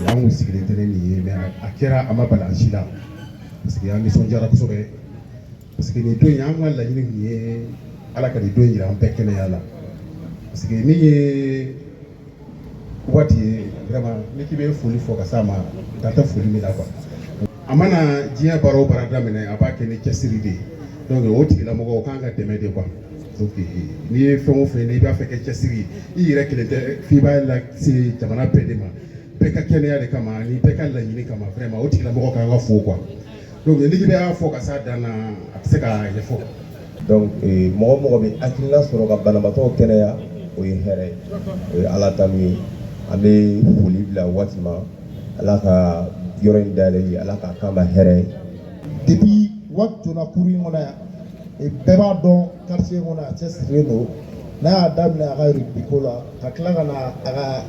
An kun sigilen tɛ ni nin ye mais a kɛra a ma bala an si la parce que an nisɔndiyara kosɛbɛ parce que nin don in an ka laɲini tun ye ala ka nin don jira an bɛɛ kɛnɛya la parce que nin ye Waati ye vraiment n'i k'i bɛ foli fɔ ka s'a ma dan tɛ foli min na quoi a mana diɲɛ baara o baara daminɛ a b'a kɛ ni cɛsiri de ye donc o tigilamɔgɔ o kan ka dɛmɛ de quoi donc n'i ye fɛn o fɛn n'i b'a fɛ kɛ cɛsiri i yɛrɛ kelen tɛ f'i b'a lase jamana bɛɛ de ma bɛɛ ka kɛnɛya de kama ani bɛɛ ka laɲini kama vraiment o tigilamɔgɔ kan ka fo quoi donc n'i k'i b'a fɔ ka s'a dan na a tɛ se ka ɲɛfɔ donc eh, mɔgɔ o mɔgɔ bɛ hakilina sɔrɔ ka banabaatɔw kɛnɛya o ye hɛrɛ ye o ye ala tanu ye an bɛ foli bila waati ma ala ka yɔrɔ in dayɛlɛli ala k'a k'an ma hɛrɛ ye depuis waati donna cour in kɔnɔ yan eh, bɛɛ b'a dɔn quartier in kɔnɔ a cɛsirilen don n'a y'a daminɛ a ka rugby ko la ka tila ka na a ka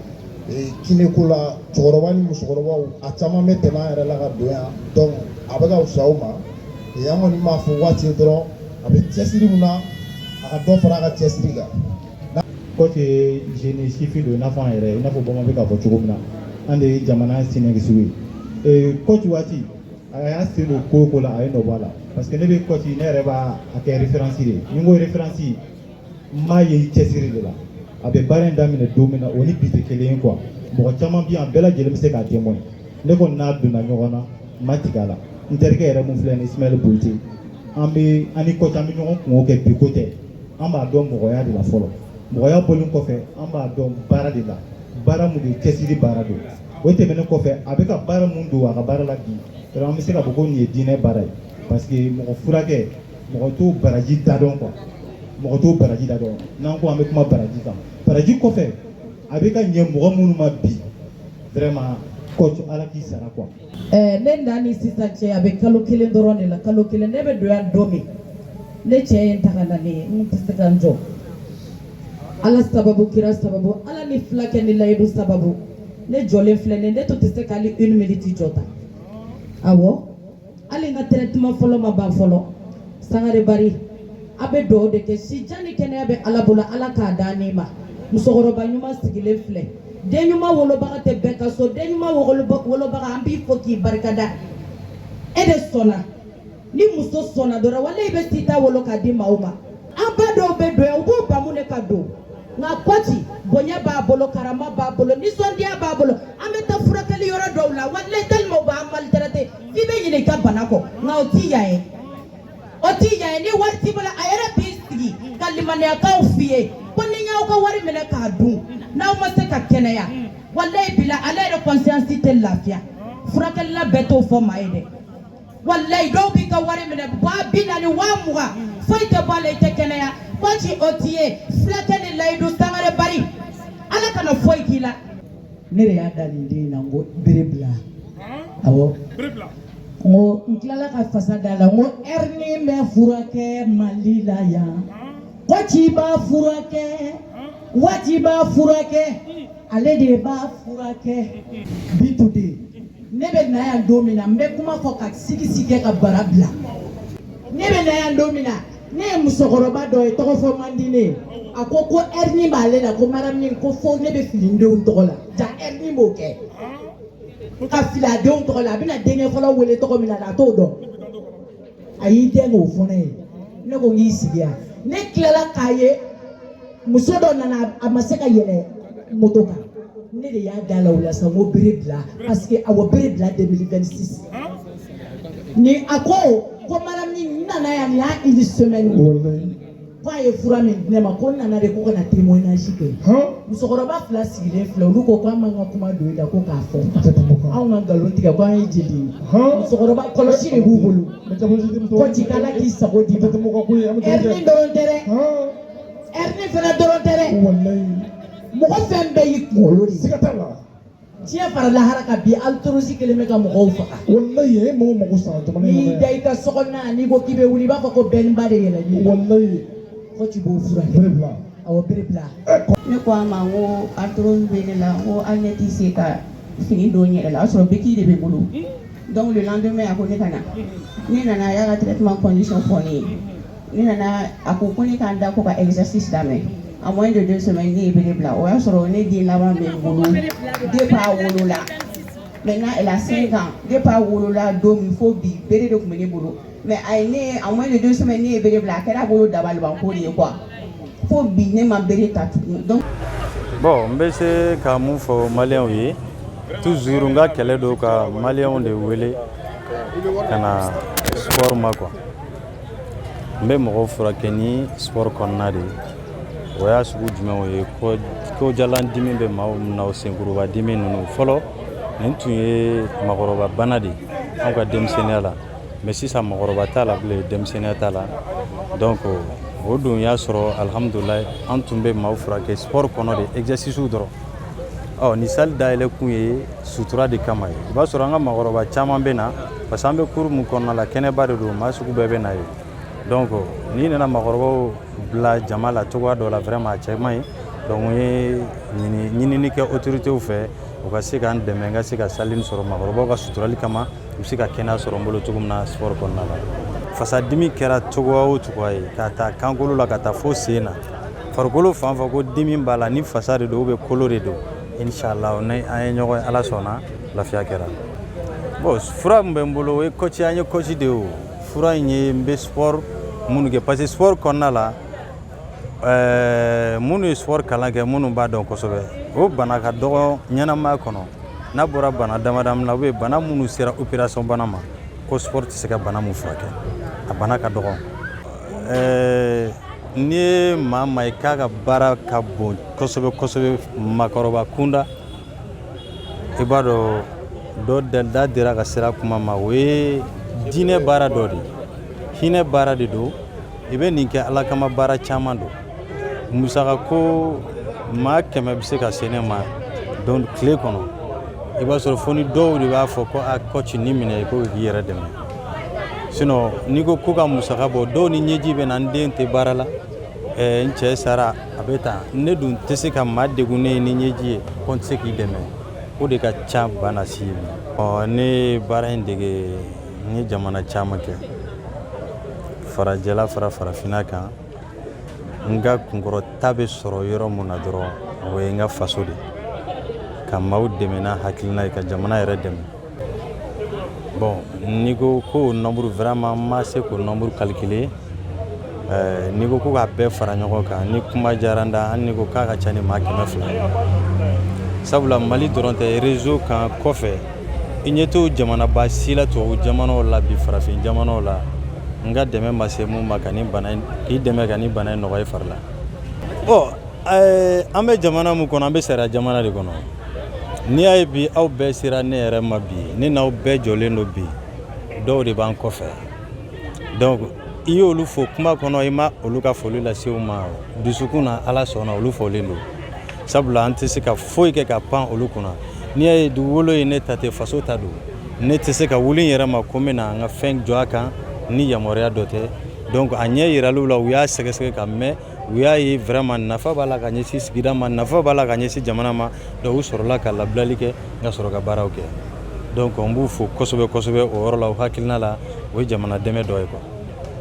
kiné ko la cɛkɔrɔba ni musokɔrɔbaw a caman bɛ tɛmɛ an yɛrɛ la ka don yan donc a bɛ ka fisa u ma an kɔni b'a fɔ waati ye dɔrɔn a bɛ cɛsiri min na a ka dɔ fara a ka cɛsiri kan coach ye jeune sifin don i n'a fɔ an yɛrɛ i n'a fɔ bamanan bɛ k'a fɔ cogo min na an de ye jamana siniɲɛsigiw ye coach waati a y'a sen don ko o ko la a ye nɔ bɔ a la parce que ne bɛ coach ne yɛrɛ b'a kɛ référence de ye ni n ko référence n b'a ye cɛsiri de la a bɛ baara in daminɛ don min na o ni bi tɛ kelen ye quoi mɔgɔ caman bɛ yan bɛɛ lajɛlen bɛ se k'a témoin ne kɔni n'a donna ɲɔgɔn na n ma tigɛ a la n terikɛ yɛrɛ mun filɛ nin Ismaël Boyite an bɛ an ni coach an bɛ ɲɔgɔn kungo kɛ bi ko tɛ an b'a dɔn mɔgɔya de la fɔlɔ mɔgɔya bɔlen kɔfɛ an b'a dɔn baara de la baara mun de cɛsiri baara don o tɛmɛnen kɔfɛ a bɛ ka baara mun don a ka baara la bi an bɛ se k'a fɔ ko nin ye diinɛ baara ye parce que mɔgɔ furakɛ mɔgɔ t'o baraji da dɔn quoi mɔgɔ t'o baraji da dɔn n'an ko an bɛ kuma baraji kan baraji kɔfɛ a bɛ ka ɲɛ mɔgɔ minnu ma bi vraiment coach ala k'i sara quoi. ɛɛ eh, ne na ni sisan cɛ a bɛ kalo kelen dɔrɔn de la kalo kelen ne bɛ don yan don min ne cɛ ye n ta ka na ne ye n tɛ se ka n jɔ ala sababu kira sababu ala ni fulakɛ ni layidu sababu ne jɔlen filɛ nin ne tun tɛ se ka hali une minute jɔ ta awɔ. hali n ka traitement fɔlɔ ma ban fɔlɔ sangare bari a bɛ dugawu de kɛ si jan ni kɛnɛya bɛ ala bolo ala k'a d'a n'i ma musokɔrɔba ɲuman sigilen filɛ den ɲuman wolobaga tɛ bɛɛ ka so den ɲuman wolobaga an b'i fo k'i barikada e de sɔnna ni muso sɔnna dɔrɔn walayi i bɛ s'i ta wolo k'a di maaw ma an ba dɔw bɛ don yan u b'u bamu de ka don nka kɔci bonya b'a bolo karama b'a bolo nisɔndiya b'a bolo an bɛ taa furakɛli yɔrɔ dɔw la walayi tellement u b'an maltraité f'i bɛ ɲinɛ i ka bana kɔ nka o t'i yan ye o t'i yan ye ni wari t'i bolo a yɛrɛ b'i sigi ka limaniyakanw f'i ye ko ni n y'aw ka wari minɛ k'a dun n'aw ma se ka kɛnɛya walayi bila ale yɛrɛ conscience tɛ lafiya furakɛlila bɛɛ t'o fɔ maa ye dɛ walayi dɔw b'i ka wari minɛ waa bi naani waa mugan foyi tɛ bɔ a la i tɛ kɛnɛya kɔci o t'i ye fulakɛ ni layidu sangare bari ala kana foyi k'i la ne de y'a da nin den na n ko bere bila awɔ n ko n tilala ka fasa da la n ko hernie bɛ furakɛ mali la yan Kɔci b'a furakɛ kɔci b'a furakɛ ale de b'a furakɛ bi today ne bɛ na yan don min na n bɛ kuma fɔ ka sigisi kɛ ka bara bila ne bɛ na yan don min na ne ye musokɔrɔba dɔ ye tɔgɔ fɔ man di ne a ko ko hernie b'ale la ko madame ko fo ne bɛ fili n denw tɔgɔ la jaa hernie b'o kɛ ka fili a denw tɔgɔ la a bɛna denkɛ fɔlɔ wele tɔgɔ min na a t'o dɔn a y'i den k'o fɔ ne ye ne ko n k'i sigi yan ne tilala k'a ye muso dɔ nana a ma se ka yɛlɛ moto kan ne de y'a da la o la sa n ko bere bila parce que awɔ bere bila 2026 ni a ko ko madame ni nana yan nin y'a une semaine ko a ye fura min di ne ma ko n nana de ko ka na témoignage kɛ musokɔrɔba fila sigilen filɛ olu ko ko an b'an ka kuma don i la ko k'a fɔ anw ka nkalon tigɛ ko an ye jeli ye musokɔrɔba kɔlɔsi de b'u bolo kɔci k'ala k'i sago d'i ma hernie dɔrɔn tɛ dɛ hernie fana dɔrɔn tɛ dɛ mɔgɔ fɛn bɛɛ y'i kunkolo de ye diɲɛ fara lahara kan bi arthrose kelen bɛ ka mɔgɔw faga wallahi e mɔgɔ mako sara jamana in n'i da i ka sokɔnɔna n'i ko k'i bɛ wuli i b'a fɔ ko bɛnba de yɛlɛ n'i wallahi kɔci b'o furakɛ bere bila awɔ bere bila ne ko a ma n ko arthrose bɛ ne la n ko hali ne tɛ se ka fini don n yɛrɛ la o y'a sɔrɔ béquille de bɛ n bolo donc le lendemain a ko ne ka na ne nana a y'a ka traitement condition fɔ ne ye ne nana a ko ko ne ka n da ko ka exercice daminɛ en moins de deux semaines ne ye bere bila o y'a sɔrɔ ne den laban bɛ n bolo depuis a wolola maintenant elle a cinq ans depuis a wolola don min fo bi bere de tun bɛ ne bolo mais a ye ne en moins de deux semaines ne ye bere bila a kɛra a bolo dabalibanko de ye quoi fo bi ne ma bere ta tugun donc. bon n bɛ se ka mun fɔ maliyɛnw ye toujours n ka kɛlɛ don ka maliyɛnw de wele ka na sport ma quoi. n bɛ mɔgɔw furakɛ ni sport kɔnɔna de o y'a sugu jumɛnw ye kojalan dimi bɛ maaw na o senkuruba dimi ninnu fɔlɔ nin tun ye mɔgɔkɔrɔba bana de an ka denmisɛnninya la mais sisan mɔgɔkɔrɔba t'a la bilen denmisɛnninya t'a la donc o dun y'a sɔrɔ alhamdulilahi an tun bɛ maaw furakɛ sport kɔnɔ de exercicew dɔrɔn ɔ ni salle dayɛlɛ kun ye sutura de kama ye i b'a sɔrɔ an ka maakɔrɔba caman bɛ na parce que an bɛ cour min kɔnɔna la kɛnɛba de don maa sugu bɛɛ bɛ na ye donc n'i nana maakɔrɔbaw bila jama la cogoya dɔ la vraiment a cɛ man ɲi donc n ye ɲinini kɛ autoritéw fɛ u ka se k'an dɛmɛ n ka se ka salle nin sɔrɔ maakɔrɔbaw ka suturali kama u bɛ se ka kɛnɛya sɔrɔ n bolo cogo min na sport kɔnɔna la fasadimi kɛra cogoya o cogoya ye k'a ta kankolo la ka taa fo sen na farikolo fan fan ko dimi b'a la ni fasa de don ou bien kolo de don inshallah n'an ye ɲɔgɔn ye ala sɔnna lafiya kɛra bon fura min bɛ n bolo o ye kɔci an ye kɔci de ye o fura in ye n bɛ sport minnu kɛ parce que sport kɔnɔna la ɛɛ minnu ye sport kalan kɛ minnu b'a dɔn kosɛbɛ o bana ka dɔgɔ ɲɛnamaya kɔnɔ n'a bɔra bana damadama la ou bien bana minnu sera opération bana ma ko sport tɛ se ka bana min furakɛ a bana ka dɔgɔ ɛɛ n'i ye maa ma i k'a ka baara ka bon kosɛbɛ kosɛbɛ maakɔrɔba kunda i b'a dɔn dɔ da dira ka sara kuma ma o ye diinɛ baara dɔ de hinɛ baara de don i bɛ nin kɛ ala kama baara caman don musaka ko maa kɛmɛ bɛ se ka se ne ma don tile kɔnɔ i b'a sɔrɔ fo ni dɔw de b'a fɔ ko a kɔci nin minɛ ko k'i yɛrɛ dɛmɛ sinon n'i ko ko ka musaka bɔ dɔw ni ɲɛji bɛ na n den tɛ baara la eh, n cɛ sara a bɛ tan ne dun tɛ se ka maa degunnen ye ni ɲɛji ye ko n tɛ se k'i dɛmɛ o de ka ca bana si ye ɔ ne ye baara in dege n ye jamana caman kɛ farajɛla fara farafinna kan n ka kunkɔrɔta bɛ sɔrɔ yɔrɔ min na dɔrɔn o ye n ka faso de ka maaw dɛmɛ n'a hakilina ye ka jamana yɛrɛ dɛmɛ Bon n'i ko k'o nombre vraiment n ma se k'o nombre calculer n'i ko ko k'a bɛɛ fara ɲɔgɔn kan ni kuma diyara n da hali n'i ko k'a ka ca ni maa kɛmɛ fila sabula mali dɔrɔn tɛ réseau kan kɔfɛ i ɲɛ t'o jamanaba si la tubabu jamanaw la bi farafin jamanaw la n ka dɛmɛ ma se min ma ka ni i dɛmɛ ka nin bana in nɔgɔya i fari la an bɛ jamana min kɔnɔ an bɛ sariya jamana de kɔnɔ n'i y'a ye bi aw bɛɛ sera ne yɛrɛ ma bi ne n'aw bɛɛ jɔlen don bi dɔw de b'an kɔfɛ donc i y'olu fo kuma kɔnɔ i ma olu ka foli lase u ma dusukun na ala sɔnna olu folen don sabula an tɛ se ka foyi kɛ ka pan olu kunna n'i y'a ye dugukolo ye ne ta tɛ faso ta don ne tɛ se ka wuli n yɛrɛ ma ko n bɛna n ka fɛn jɔ a kan ni yamaruya dɔ tɛ donc a ɲɛ yiralen u la u y'a sɛgɛsɛgɛ ka mɛɛn u y'a ye vraiment nafa b'a la ka ɲɛsin sigida ma nafa b'a la ka ɲɛsin jamana ma donc u sɔrɔla ka labilali kɛ n ka sɔrɔ ka baaraw kɛ donc n b'u fo kosɛbɛ kosɛbɛ o yɔrɔ la o hakilina la o ye jamana dɛmɛ dɔ ye quoi